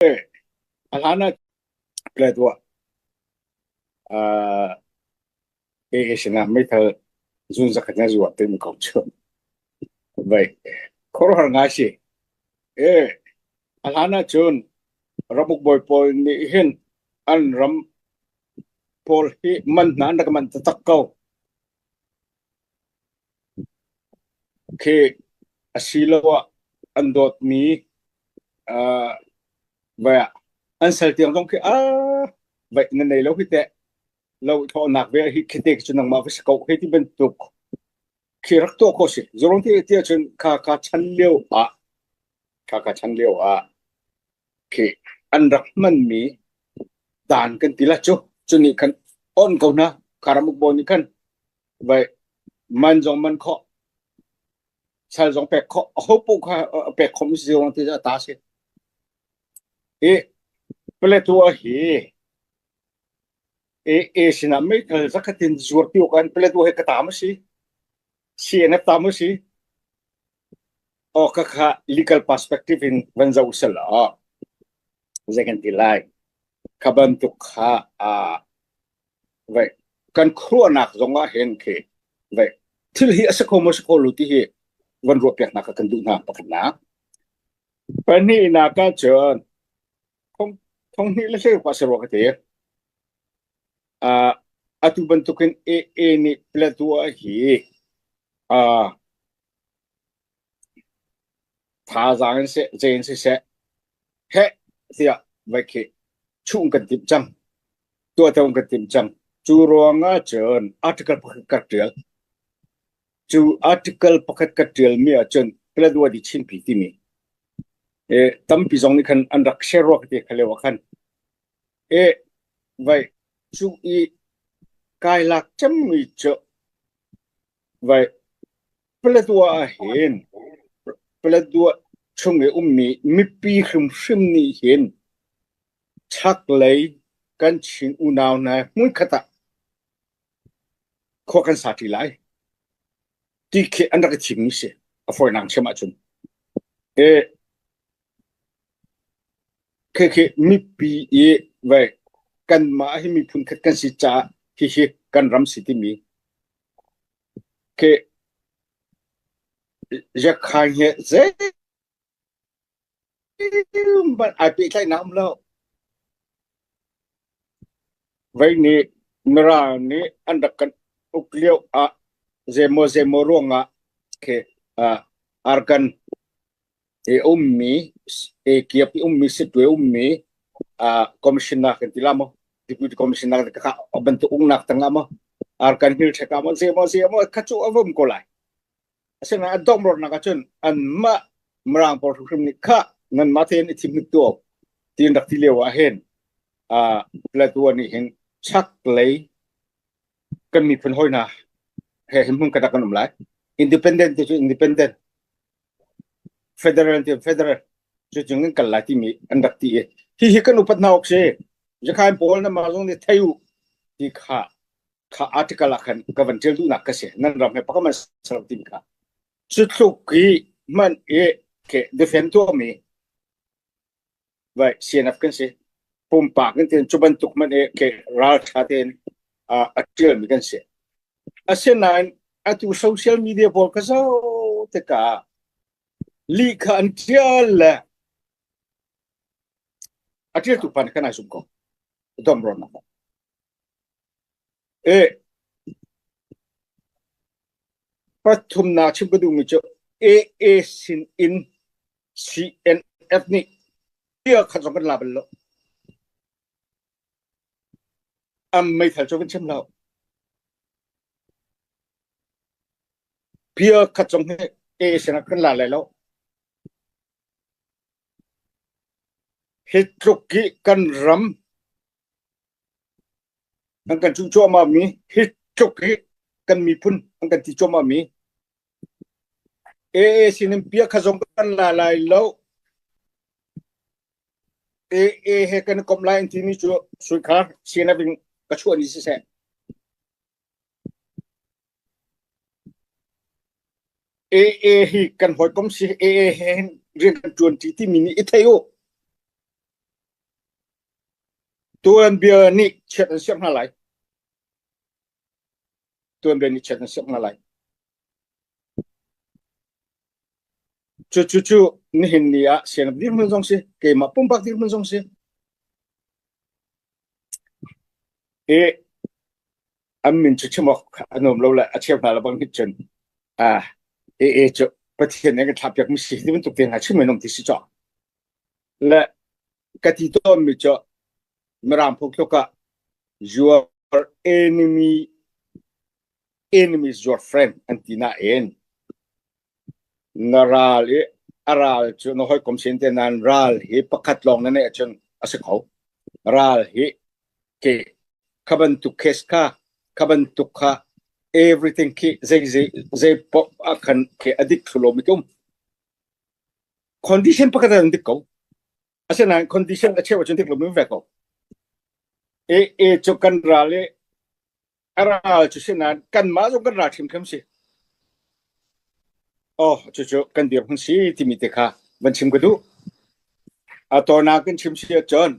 A hlan ah plet uh, AA sinah meithal zun zakhat na zuah te mi ko cu. Vai, khuaruahar ngai si. Eh, a hlan ah cun ramuk bawi pawl nih hin an ram pawl hi man hna an rak man tatak ko. Khek asiloah an dawtmi aa vai ah an sal tiang zong khi aa vaih nan nei lo hi teh. Lo thawhnak ve hi khi te cu nangmah va si ko hei ti bantuk khi rak tuah ko si. Zurung ti ti ahcun kha ka chan lio ah kha ka chan lio ah khi an rak hmanmi dan kan ti la cu cu nih khan on ko hna karam ukbo nih khan vai man zong man kho sal zong pek kho a hopu kha pek khom si zong ti ta si i Plateau hi e e sinah meithal zakhatin zuar ti kan Plateau he ka tam si Si a ngep ta mu si. Aw ka kha legal perspective in van zoh sel aw. Zei kan ti lai. Kha bantuk kha aa vậy kan khuanak zong ah hen khi vậy thil hi a si kho mo si kho lu ti hi van ruah piak nak kan duh na pakhat nak pahnih nak ka chun thong thong ni le thil pa se ruwa ka ti Atu bantukin AA nih Plato ah hi thazaang in seh, zei in siseh heh tiah vai khi chuh in kan timh cang. Tuah tho in kan timh cang. Cu ruangah cun article pakhat ka ṭial. Cu article pakhat ka ṭialmi ahcun Plato adi chimpi timi. Tampi zong nih khan an rak share ruak ti kha leo ah khan Eh, vaih, cuk i kai lak cemmi cu vaih Paletwa ahhin Paletwa chung i ummi mipi hrimhrim nih hin chaklei kan Chin unau hna hmunkhat ah khua kan sa ṭi lai, ti khi an rak i thimmi a si. A fawinak ṭhiam ahcun. Eh, Khikhi mipi i vei kanmah hi miphun khat kan si caah hihi kan ram si timi khi Yakhang hi zeihmanh ai pehtlaihnak a um lo. Vei nih Mirang nih an rak kan uk lio ah zeimaw zeimaw ruangah khi arkan kiap i ummi sitwe ummi commissioner kan ti la maw deputy commissioner a bantuk uknak tang ah maw arkan hmil ṭhek ah maw zie maw zie maw kha cu a vom ko lai asina a domrornak ah cun anmah mirang pawl hrimhrim nih kha nanmah tein i thim hnik tuau tiin rak ti lio ah hin Plateau nih hin chak lei kan miphun hoi hna he him hmun kadak kan um lai independent ti cu independent Federal tiah federal cu cung in kal lai timi an rak ti i hihi kan upat hna awk si. Zakhain Paul nangmah zong nih thei u ti kha kha article ah khan ka van tial duhnak ka si. Nan ram he pakam an ser timi kha. Cu tluk i hman i ke defend tuahmi Vai CNF kan si. Pumpak in tin cu bantuk man e ke raltha ten uh, a tialmi kan si. Asinain atu social media pawl ka zo te ka lihkha an tial le a tialtu pan kan ai zum ko. Dom ron na. Eh, pathumnak chim ka duhmi cu AA sin in CNF nih bia khat zong kan la bal lo. Am meithal cu kan chim lo. Bia khat zong hi AA sin ah kan la lai lo. Hi tluk hi kan ram An kan cuh cuahmah mi hi tluk hi kan miphun an kan ti cuahmah mi AA sin in piah kha zong kan la lai lo. AA he kan i komh lai an timi cu suikhar sinah in ka chuah ni siseh. AA hi kan hoi kom si AA he hin rian kan tuan ti timi nih i thei u. Tuanbia nih chiat an siak hna lai. Tuanbia nih chiat an siak hna lai. Cucu cu nihin ni ah sianap dirhmun zong si, keimah pumpak dirhmun zong si. I an min cu chim awk an um lo le a cheu hna lo bang nih cun ah e e cu Pathian nih an kan thlahpiak mi si ti bantuk te hna chim an um ti si caw. Le ka ti tawnmi cu mirang phungthluk ah your enemy enemies your friend an ti na en na ral i a ral cu na hoi kom sin te nan ral hi pakhat lawng na ne chun a si kho ral hi ke khabantuk kes kha khabantuk kha everything khi zei zei zei pop a khan ke adik thulom itum condition pakhat ah an dik ko asinain condition a cheu ahcun dik lomi ve ko e e cu kan ral i a ral cu sinan kan mah zong kan ral hrimhrim si oh cucu kan dir hmun si timi te kha van chim ka duh a tawna kan chim si ahcun